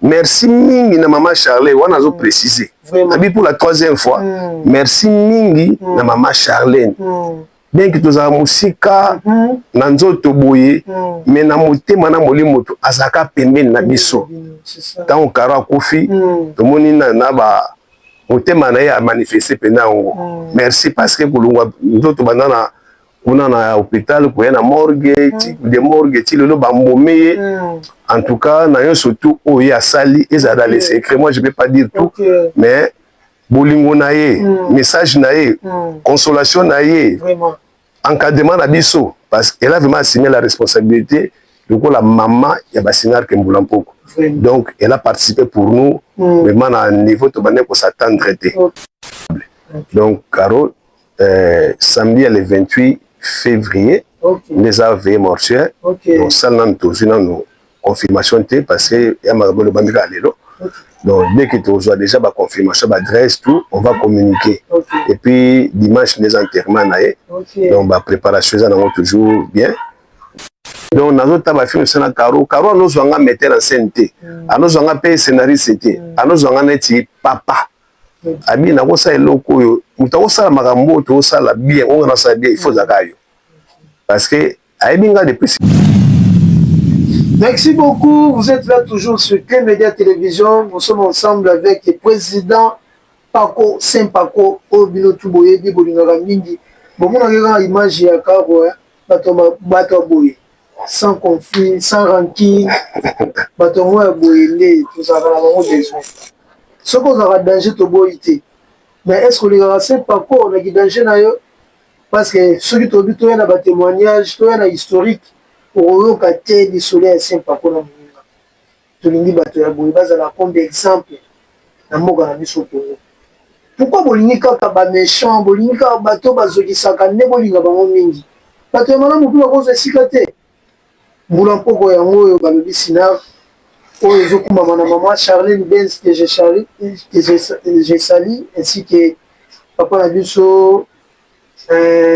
merci mingi na mama charle wana azo mm. précise abi pour la troisième fois mm. merci mingi mm. na mama charlene mm. bien ke tozala mosika mm -hmm. na nzoto boye mm. me na motema na molimo moto azalaka pembeni na biso ntango mm. karo akufi mm. tomoni na, na ba motema na ye amanifeste mpenza yango mm. merci parce que kolongwa nzoto banda na kuna na hopital koya na morgue mm. de morgue ti lelo bambome ye mm. en tout cas na yo surtout oyo ye asali ezala na le secret moi je peux pas dire tout okay. mais bolingo na ye mm. message na ye mm. consolation na ye Vraiment. encadrement na biso parce qu'elle a vraiment assigné la responsabilité lokola mama ya basinar ke mbula mpoko donc elle a participé pour nous mm. vraiment na niveau tobandaki kosattendre te okay. donc caro euh, samedi ya le 28 février okay. nde eza veye mortuaire okay. donc sala nanu tozwi nanu confirmation te parce que ya makambo elobami kaka lelo okay. donc dès que tozwa déjà baconfirmation baadresse tout on va communiquer okay. et puis dimanche nde eza enterrement na ye okay. donc bapréparation eza nango toujours bien donc nazota bafilme se na caro caro anozwa nga metteur en scène te mm. anozwa nga mpe scénariste te mm. anozwa nga neti papa abi nakosala eloko oyo moto akosala makambo oyo tokosala bien oyo nasala bien ifo ozalaka yo parce que ayebi ngai depuis Merci beaucoup, vous êtes là toujours sur Clé Média Télévision, nous sommes ensemble avec le président Paco Saint Paco, Obino Tuboyebi, Bolingaka Mingi, bon, on a une image ya Karo, hein? Bato ba bato ya boye sans conflit sans ranquille bato yango ya boye nde tozalaka na bango besoin soki ozalaka danger toboyi te mais est ce que olingaka se paco na ki danger na yo parce que soki tobi toya na ba témoignage toya na historique okoyoka te lisolo ya se paco na moninga Tolingi bato ya boye bazala comme d'exemple na mboka na biso Congo. Pourquoi bolingi kaka ba mechants, bolingi kaka bato oyo bazokisaka nde bolinga bango mingi? Bato ya malamu pe bakozwa esika te? Mbula mpoko yango oyo balobi Cinarc oyo ezokumbama na maman Charlene Benz que je salue, je salue ainsi que papa na biso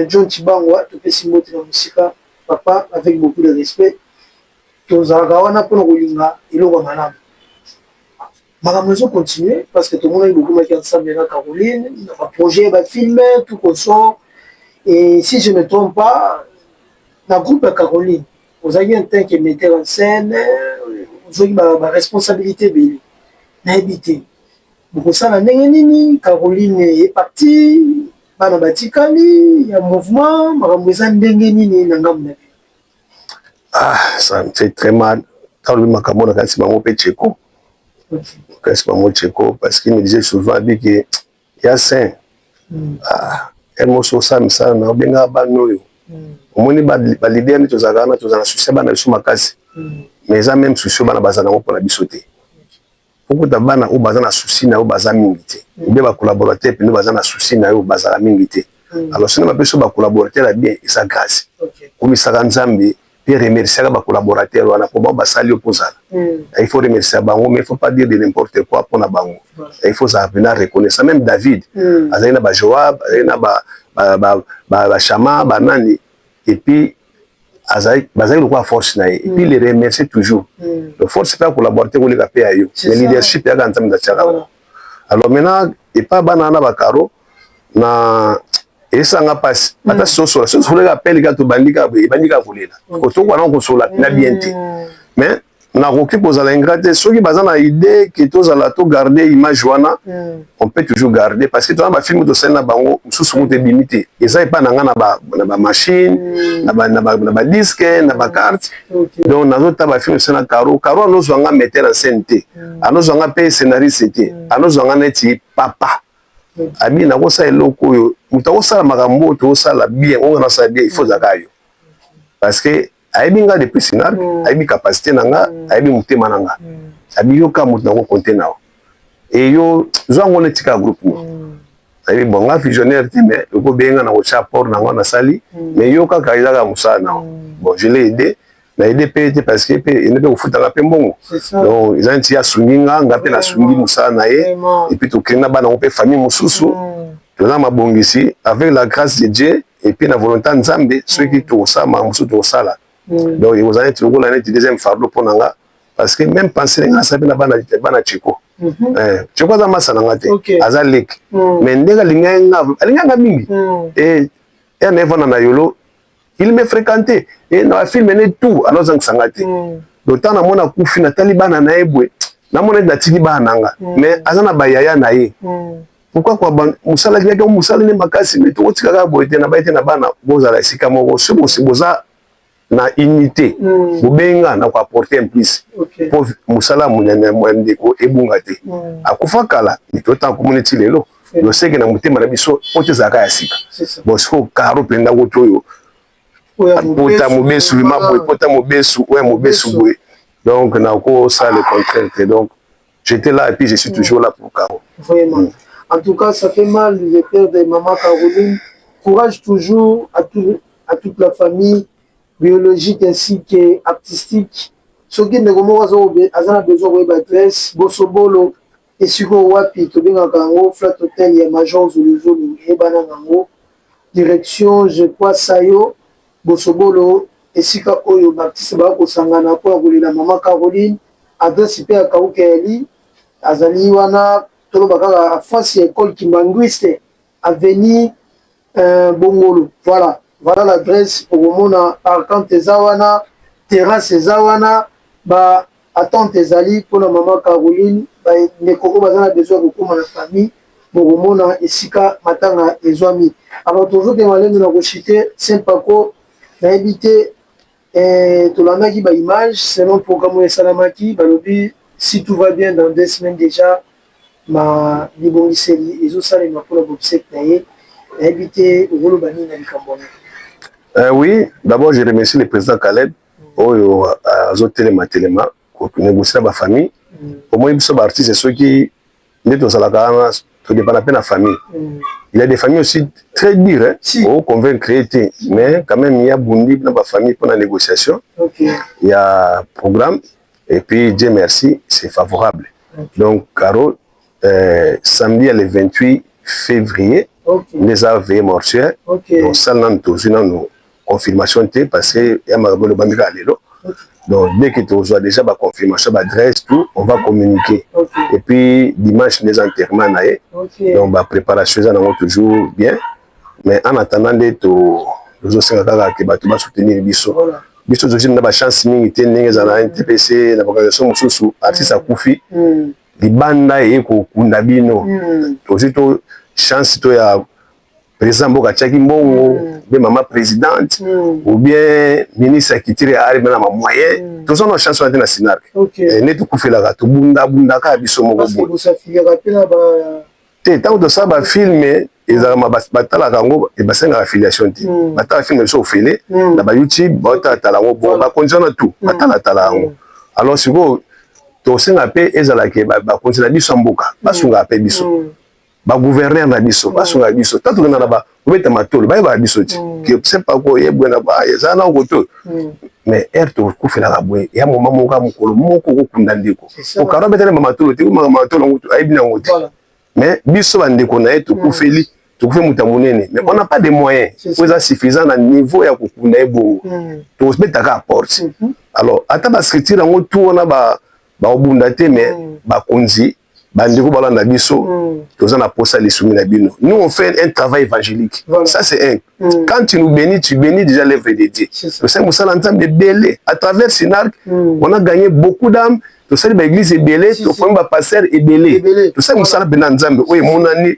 John Tshibangwa, topesi mbote na mosika papa avec beaucoup de respect. Tozalaka wana pona kolinga eloko ya malamu. Makambo ezo continuer parce que tomonaki bokomaki ensemble na Caroline na ba projet ya ba film tout consort et si je ne trompe pas na groupe ya Caroline ozalaki en tant que metteur en scène ozwaki ba, ba responsabilité ebele nayebi te bokosala ndenge nini Caroline est partie bana batikali ya mouvement makambo eza ndenge nini na ngambo na ah ça me fait très mal talobi makambo na kasi bango mpe cheko kasi bango cheko parce qu'il me disait souvent abi ke ya saint mm. ah, emosi osamisana na obengaka bana oyo mm. omoni balide nde tozalaka wana tozala na susi ya bana biso makasi mm. mais eza meme susi oyo bana bazala yango mpona biso te okuta bana oyo baza na souci na yo baza mingi te ou bien ba collaborateur pene baza na souci na yo bazala mingi te hmm. alors soki bapesi yo ba collaborateur ya bien eza grâce komisaka nzambe mpe remerciaka ba collaborateur wana mpo bango basali yo mpo ozala hmm. il faut remercia bango mais il faut pas dire de n'importe quoi mpo na bango il faut ozala mpena reconnaissant même david hmm. azali na ba joab azali na ba bashama banani epuis azali bazali lokola force na ye et puis mm. le remercier toujours mm. donc force mpe akolabore te koleka mpe ya yo mais leadership yaka nzambe natiaka yango alors maintenant epa bana wana bakaro na esanga mpasi mm. ata sosola sosoleka appel kaka tobandi kaka boye ebandi kaka kolela kotoka wana kosola na bien te mais nakoki kozala ingrat te soki baza na idee ke tozala to garde image wana mm. on peut toujours garde parce que tona bafilme tosali na bango mosusu moto ebimi te eza epai na ngai na bamachine mm. na badiske na bacarte okay. donc nazota bafilme tosali na caro caro anozwa nga meter en scène te mm. anozwa nga mpe scénariste te mm. anozwa nga neti papa mm. abi nakosala eloko oyo moto akosala makambo oyo tokosala bien oyo nasala bien il faut ozaka yo parce que ayebi nga depuis sinal mm. ayebi capacité na nga mm. ayebi motema na nga mm. abi yo ka moto nango konte na yo e yo zwa ngo netika groupe no mm. ayebi bon nga visionnaire te mais okobeye nga na kotya apport na ngo nasali mm. mais yo kaka ezaka mosala na yo mm. bon je l'ai aidé na aide mpe te parce que mpe ene mpe kofutaka mpe mbongo donc eza neti asungi nga nga mpe nasungi mosala na ye epuis tokende na bana ngo mpe famille mosusu mm. toza na mabongisi avec la grâce de dieu et puis na volonté ya nzambe soki mm. tokosala makambo mosusu tokosala mm. donc ekozala neti lokola neti deuxième fardeau mpo na nga parce que même pensé na nga nasala mpe na bana bana cheko mhm. eh, cheko aza masa na nga te aza leki mm. mais ndenge alingaki nga alingaki nga mingi e ya na evanda na yolo il me fréquenté e na bafilme ne tout alors azangisa nga te donc ntango namona kufi natali bana na ye boye namona ete natiki bana na nga mais aza na bayaya na ye Pourquoi quoi ban musala ki yaki musala ne makasi mais toko tika kaka boye te na baye te na bana bozala esika moko ce bosi boza na unité mm. bobenga na ko apporter un plus okay. po musala munene mwa ndeko ebunga te mm. akufa kala mito ta ko moneti lelo yo seke na mutema na biso po te zaka ya sika bon siko karo penda ko toyo pota mobesu ma boye pota mobesu oya mobesu boye donc na ko sala le contraire te donc J'étais là et puis je suis toujours là pour Caro. Vraiment. Mm. En tout cas, ça fait mal de perdre maman Caroline. Courage toujours à, tout, à toute la famille biologique ainsi que artistique. soki ndeko moko aza na besoin koyeba adresse bosobolo esika wapi tobengaka yango flat hotel ya major zuluzulu eyebana na yango direction je crois sayo Bosobolo, Esika oyo Baptiste bakoki kosangana mpo na kolela Mama Caroline. Adresi mpe ya Kauke Elie, azali wana toloba kaka en face ya Ecole kimbanguiste, avenue Bongolo. Voilà, voilà l'adresse, okomona parkante eza wana, terrasse eza wana, ba Attente ezali pona maman Caroline, ba ndeko oyo baza na besoin ya kokoma na famille bokomona esika matanga ezuami. Alors tozo kende malembe na ko chute Saint Paco nayebi te eh, tolandaki ba images selon programme oyo esalamaki balobi si tout va bien dans deux semaines dejà ma bibongiseli ezo salema pona bobsek na ye nayebi te okoloba nini na likambo wana. Euh, oui, d'abord je remercie le président Caleb oyo azo telema telema ko negocier na ba famille omoni biso ba artiste soki nde tozalaka wana to depana pe na famille il y a des familles aussi très dur hein si. au convaincre été mais quand même il y a bundi na ba famille pour la négociation okay. il y a programme et puis Dieu merci c'est favorable okay. donc Caro Euh, samedi ya le 28 février okay. nde eza veye mortuaire okay. donc sala nanu tozwi nanu confirmation te parce que ya makambo elobami kaka lelo okay. donc dès que tozwa déjà baconfirmation baadresse tout on va communiquer okay. et puis dimanche nde eza enterrement na ye okay. donc bapréparation eza nango toujours bien mais en attendant nde tozosenga kaka ke bato basoutenir biso voilà. biso tozwi na bachance mingi te ndenge ezala na ntpc na baorganisation mosusu artiste akufi mm. libanda eye kokunda bino mm. tozwi to chance to ya président mboka atiaki mbongo mm. be mama présidente mm. ou bien ministre ya culture ya arme na bamoyen mm. toza na chance wana te na sinarke okay. eh, nde tokufelaka tobundabundaka biso moko boye te ntango tosala bafilme ezalaka batalaka yango basengaka affiliation te hmm. batala filme biso ofele hmm. na bayoutube batalatala yango bo bakonzi wana tu hmm. batalatala yango alors sikoyo tosenga mpe ezala ke bakonzi na biso ya mboka basungaka mpe biso baguverner na biso basungaka biso ta tokenda na obeta matolo bayebaka biso ti hmm. sepa koye bwe na ba eza na koto hmm. mais heure tokokufelaka boye ya moma moko ya mokolo moko okokunda ndeko okaro abetana ma matolo te komaka matolo yango ayebi na yango te mais biso bandeko na ye tokufeli hmm. tokufe moto ya monene mais on n'a pas de moyen po eza suffisant na niveau ya kokunda ye bongo tokobetaka a porte mhm. alors ata bascriture yango tu wana bakobunda te mais bakonzi bandeko balanda biso mm. toza na posa lisungi na bino nous on fait un travail évangélique voilà. ça c'est un mm. quand tu nous bénis tu bénis déjà l'œuvre de Dieu tosali mosala nzambe ebele à travers Sinarc mm. on a gagné beaucoup d'âmes tosali baeglise ebele tokomi bapastere ebele tosali mosala mpenza nzambe oyo emonani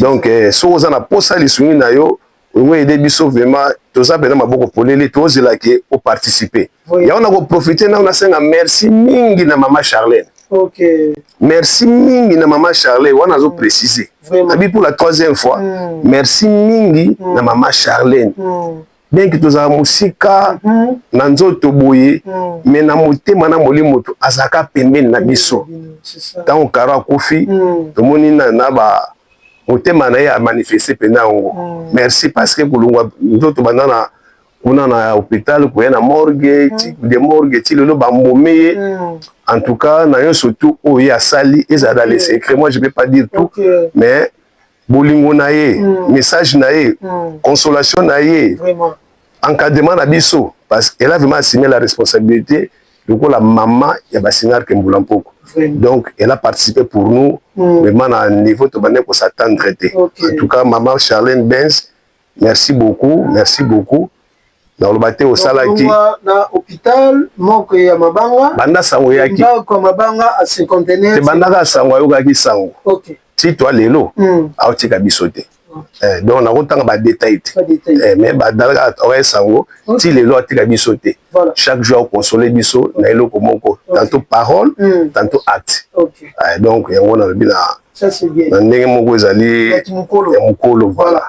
donc eh, soki oza na posa lisungi na yo olingo ede biso vraiment toza pena maboko polele tozela ke o participer oui. yango nakoprofite nao nasenga merci mingi na mama charlene okay. merci mingi na mama charlene wana azo mm. précise abi pour la troisième fois mm. merci mingi mm. na mama charlene mm. bien que tozala mosika mm. na nzoto boye mm. mais na motema na molimo moto azalaka pembeni na biso ntango karo akufi mm. tomoni na, na ba motema na ye amanifeste mpenza yango mm. merci parce que kolongwa nzoto banda na kuna na hôpital koya na morgue mm. ti de morgue ti lelo bambome ye mm. en tout cas na yo surtout oyo ye asali ezala dans le mm. secret moi je peux pas dire tout okay. mais bolingo na ye mm. message na ye mm. consolation na ye vraiment encadrement na biso parce qu'elle a vraiment assumé la responsabilité lokola mama ya basinar ke mbula mpoko donc elle a participé pour nous mm. vraiment na niveau tobandaki kosatendre te okay. en tout cas mama charlene benz Merci beaucoup, merci beaucoup. nakoloba te osalaki na hôpital moko ya mabanga banda sango eyaki ndako ya mabanga a cinquantenaire te bandaka sango ayokaki sango okay. ti toi lelo mm. aotika biso te okay. eh, donc nakotanga badetail te eh, mais badalaka oye sango okay. ti lelo atika biso te Voilà. Chaque jour au consoler biso na eloko moko okay. tantôt parole mm. tantôt acte. Okay. Euh, donc yango na lobi na Ça c'est bien. Na ndenge moko ezali ya mukolo. Ya mukolo voilà.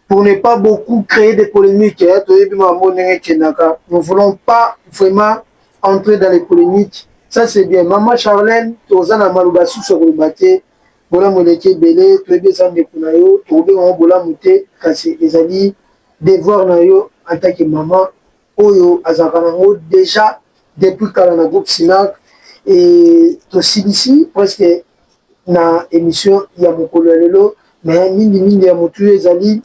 Pour ne pas beaucoup créer des polémiques, hein, toyebi mambo ndenge kendaka. Nous voulons pas vraiment entrer dans les polémiques. Ça c'est bien. Maman Charlène, tozana maluba sous sur le bâté. Bolamu eleki ebele, toyebi eza ndeko na yo, tokobenga yango bolamu te, kasi ezali devoir na yo en tant que maman oyo azalaka na ngo dejà depuis kala na groupe Cinarc et tosilisi presque na emission ya mokolo ya lelo mais mingi mingi ya motuya ezali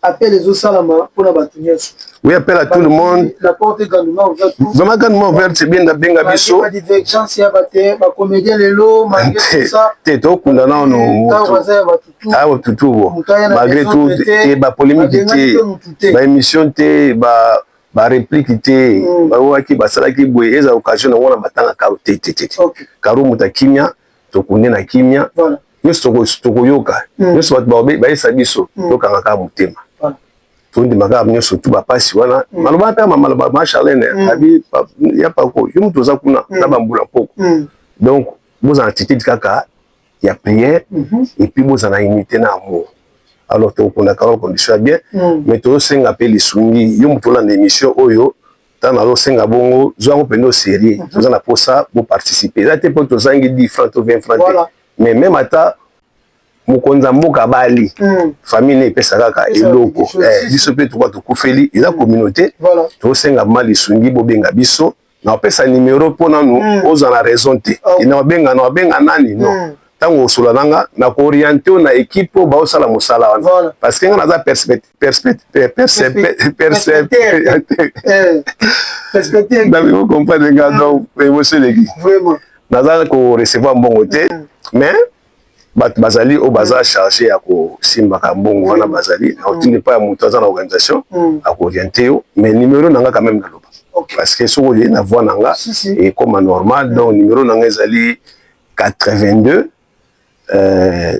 appel ezosalama mpona bato nyonso oui appel à tout le monde la porte est grandement ouverte vraiment grandement ouverte c'est bien nabenga biso ba divergence ya bate ba comédien lelo malgré tout ça te tokunda nano awa ah, tutu bo malgré tout te ba polémique te ba émission te ba ba réplique te mm. baoyaki basalaki boye eza occasion na wana batangaka te te te karo moto ya kimia tokunde na kimia nyonso tokoyoka hmm. nyonso bato baobe bayesa biso hmm. tokanga kaka motema tondima kaka nyonso tu bapasi wana hmm. maloba ata mamaloba ma charlene abi ya pako yo moto oza kuna na bambula mpoko donc bozala attitude kaka ya prière mhm. et puis bozala unité na amour alors tokokunda kaka condition ya bien mais tozosenga mpe lisungi yo moto olanda émission oyo ntango nazosenga bongo zwa yango mpenza serie mhm. toza na mposa boparticipe eza te mpo tozangi 10 franc to 20 franc te mais meme ata mokonzi ya mboka abali mhm. famille ne epesa kaka eloko eh, biso mpe tokoa tokufeli eza mhm. communauté tosenga ma lisungi bobenga biso na opesa nimero mpo nanu ozwa na raison te oh. ina obenga na obenga nani non ntango osola na nga na kooriente na ekipe oyo baosala mosala wana parce que nga naza perspective nalingi okomprendre nga donc emotion eleki naza korecevoir mbongo te mm. mais bato bazali oyo baza mm. charge ya kosimbaka mbongo wana mm. bazali na otindi epai ya moto aza na organisation akoriente yo mais numero na nga quand même naloba parce que soki oye na voi na nga ekoma normal donc numero na nga ezali 82 euh,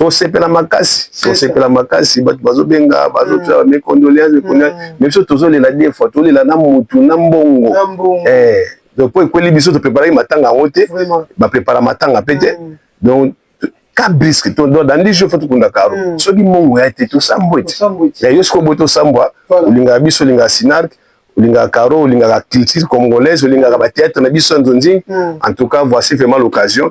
tosepela makasi tosepela makasi bato bazobenga bazotala mm. mes condoléances mes condoléances mm. mais biso tozolela deux fois tolela na mutu na mbongo eh, donc mpo ekweli biso topreparaki matanga yango te baprepara matanga mpe te mm. donc ka briske dandi jo fo tokunda karo soki mbongo ya te tosambwa ete ya yo soki oboyi tosambwa olingaka biso olingaka sinark olingaka caro olingaka culture congolaise olingaka batheatre na biso ya nzonzing en tout cas voici vraiment l'occasion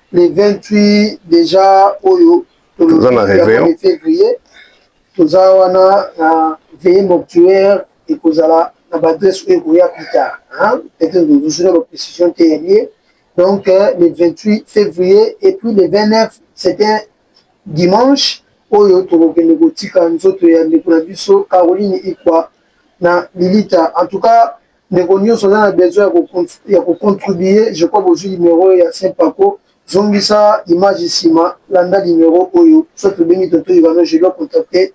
le 28 deja oyo toza na réveillon février toza wana na veille mortuaire ekozala na baadresse oyo ekoya plus tard peut-être tozozwina baprécision te ya lie donc euh, le 28 février et puis le 29 c'est un dimanche oyo tokokende kotika nzoto ya ndeko na biso caroline ikwa na lilita en tout cas Ndeko nioso aza na besoin ya ko ya ko contribuer je crois bozui numero ya Saint Paco zongisa image sima landa numero oyo soit obengi tonton Ivano je dois contacter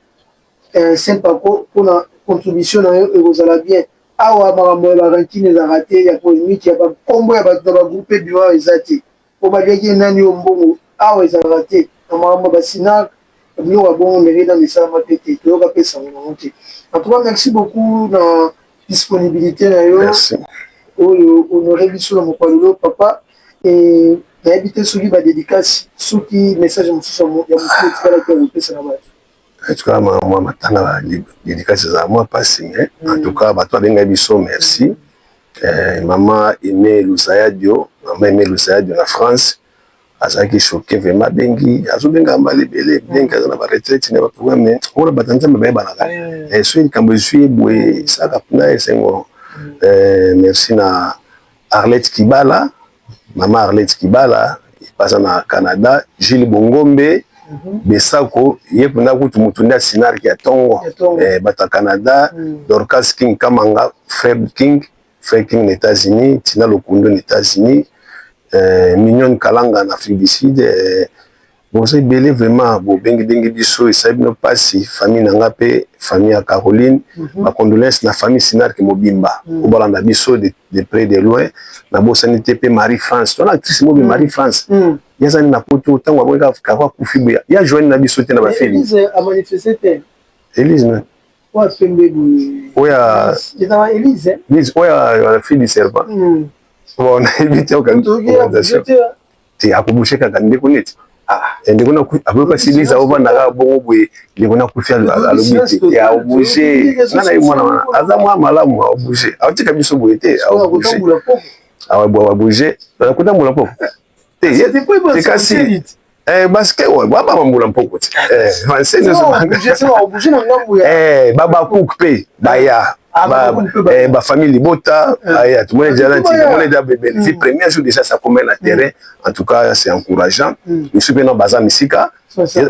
eh, Saint Paco pona contribution na yo ekozala bien awa makambo ya ba rancune ezalaka te ya polemique ya ba kombo ya bato na ba groupe ebima eza te po baliaki ye nani oyo mbongo awa ezalaka te na makambo ya ba cinarc na biloko ya bongo mairie nanu esalama pe te toyoka pe sango nango te en tout cas merci beaucoup na disponibilite na yo oyo honore biso na mokolo lelo papa et nayebi te soki ba dedicace soki message mosusu ya motu etikalaki ya kopesa na batu En tout cas ma mwa matanga ba dedicace ezala mwa pasi mais en tout cas bato babengai biso merci eh, mama Aime Lusayadio mama Aime Lusayadio na France azalaki choqué vraiment abengi azobenga mbala ebele bien ke aza na baretraite na baproga mais wana bato ya nzambe bayebanaka eh, soki likambo ezwi ye boye esalaka mpuna esengo eh, merci na arlette kibala Mama Arlette Kibala baza na Canada, Jules Bongombe, mm -hmm. Besako ye mpenza kutu moto nde asinarki ya ntongo eh, bato ya Canada mm. Dorcas King Kamanga, Fred King, Fred King na États-Unis, Tina Lokundo na États-Unis, eh, Mignon Kalanga na Afrique du Sud eh, Boza ebele vraiment bo bengi bengi biso esali bino pasi famille na nga pe famille ya Caroline mm -hmm. ba condoleances na famille Sinarc mobimba mm -hmm. obalanda biso de, de près de loin na bosani te pe Marie France tona actrice mobi mm -hmm. Marie France mm -hmm. yazani na poto tango amoni ka kaka kufi boya ya joani na biso te na ba film Elise a manifester te Elise na oya pembe boye oya Elise Elise oya la fille du serpent mm. bon na ebite okangi te akobushe kaka ndeko neti ah, eh, ndeko na akoki kasi liza ovanda kaka bongo boye ndeko na kufi alobi te ya obushe nga na ye mwana wana aza mwa malamu aobushe aotika biso boye te aobushe awabushe kotambula mpo te kasi Eh, baske oyo bababa mbula mpoko ti eh, vanse nyonso eh, babakuk mpe baya Ah, ba, eh, ba famille libota eh. ah, ya tomoni déjà nanti tomoni déjà bebele fi premier jour déjà ça commet na terrain en tout cas c'est encourageant mm. misu mpe na baza misika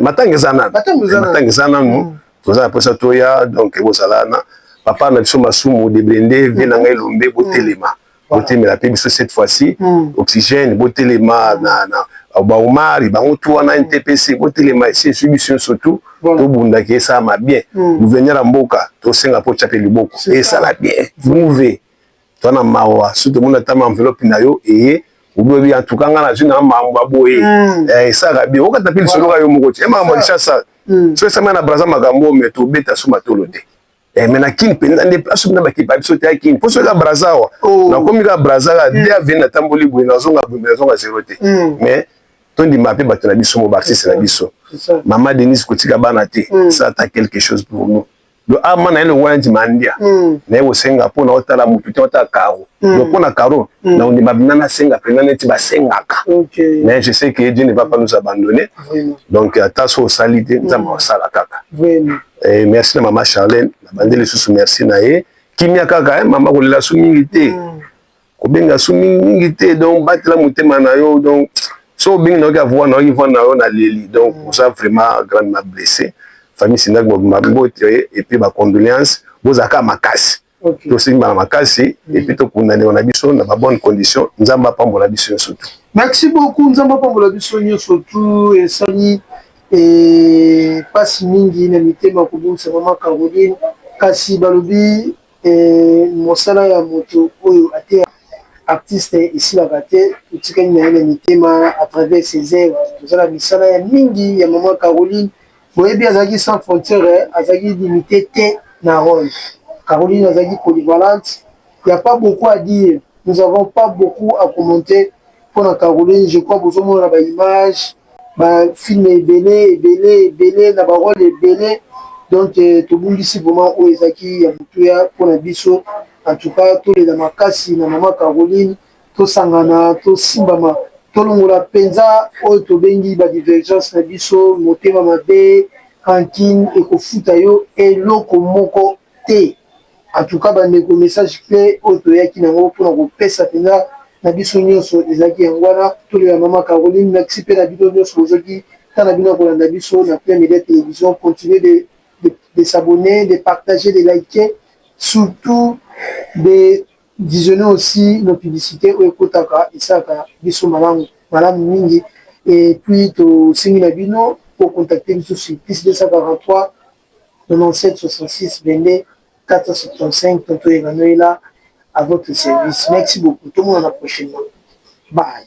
matanga eza nanu matanga eza nanu mm. toza na mposa toya donc ekozala na papa na biso masumu deblende vie na ngai elombe botelema mm. botemela mpe biso cette fois ci hmm. oxygène botelema hmm. na, na baomari bango tu wana hmm. ntpc botelema esi esui biso nyonso tu tobundaki esalama bien gouverneur ya mboka tosenga mpo tya mpe liboko esala bien mouve toa na mawa soki tomoni ata ma enveloppe na yo eye obebi en tout cas ngai nazwi na makambo ya boye eh, esalaka bien okata mpe lisoloka yo moko te eh, makambo ya lisasa soki esamai na braza makambo oyo me tobeta so matolo te Eh, mais na kin mpenza nde place na bakiti ba biso te ya kin mposo eza braza awa oh. nakomi kaka braza kaka mm. de aveni natamboli boye nazonga boye nazonga zero te mm. mais tondima mpe bato na biso mo baartiste na biso mama denise kotika bana te mm. ça ata quelque chose pour nous do ama na ye longo na ndima ndia naye kosenga mpo na otala motu te otala karo do mpo na karo na ondima bina nasenga mpenza neti basengaka mais je sais que dieu ne va pas nous abandonner donc ata so osali te nzambe osala kaka Eh, merci na mama Charlène, nabandi lisusu merci na ye. Kimia kaka eh, mama kolela su mingi te. Mm. Kobenga su mingi mingi te donc batela motema na yo donc so obengi na yo ka voix na yo voix na yo na leli donc mm. oza vraiment grande ma blessé. Famille Sindak Bob Mabot et puis ba condoléances bozaka makasi. okay. tosimbana makasi mm. epuis tokundanelo na biso na babonne condition nzambe apambola biso nyonso tu merci beaucoup nzambe apambola biso nyonso tu esali eh, pasi mingi na mitema kobungisa mama caroline kasi balobi eh, mosala ya moto oyo ateya artiste esilaka te totikali na ye na mitema à travers ses œuvres tozala misala ya mingi ya mama caroline Boyebi azalaki sans frontière, azalaki limite te na role. Caroline azalaki polyvalente, il n'y a pas beaucoup à dire, nous avons pas beaucoup à commenter mpo na Caroline, je crois bozomona na ba images, ba films ebele ebele ebele na ba role ebele donc euh, tobungisi vraiment oyo ezalaki ya motuya mpo na biso. En tout cas tolela makasi na mama Caroline. tosangana, tosimbama, tolongola mpenza oyo tobengi ba divergences na biso, motema mabe, rancune, ekofuta yo eloko moko te. En tout cas bandeko, message cle oyo toyaki na yango mpo na kopesa mpenza na biso nyonso ezalaki yango wana, tolela mama Caroline. Merci mpe na bino nyonso bozuaki temps na bino ya kolanda biso na Ple Media Television. Continuez de de s'abonner, de partager, de liker, surtout de. Visionner aussi na publicite oyo ekotaka esalaka biso malamu malamu mingi et puis to sengi na bino bo contacter biso sur plus 243 97 66 22 475 tonton Emmanuela à votre service merci beaucoup tomonana prochainement bye.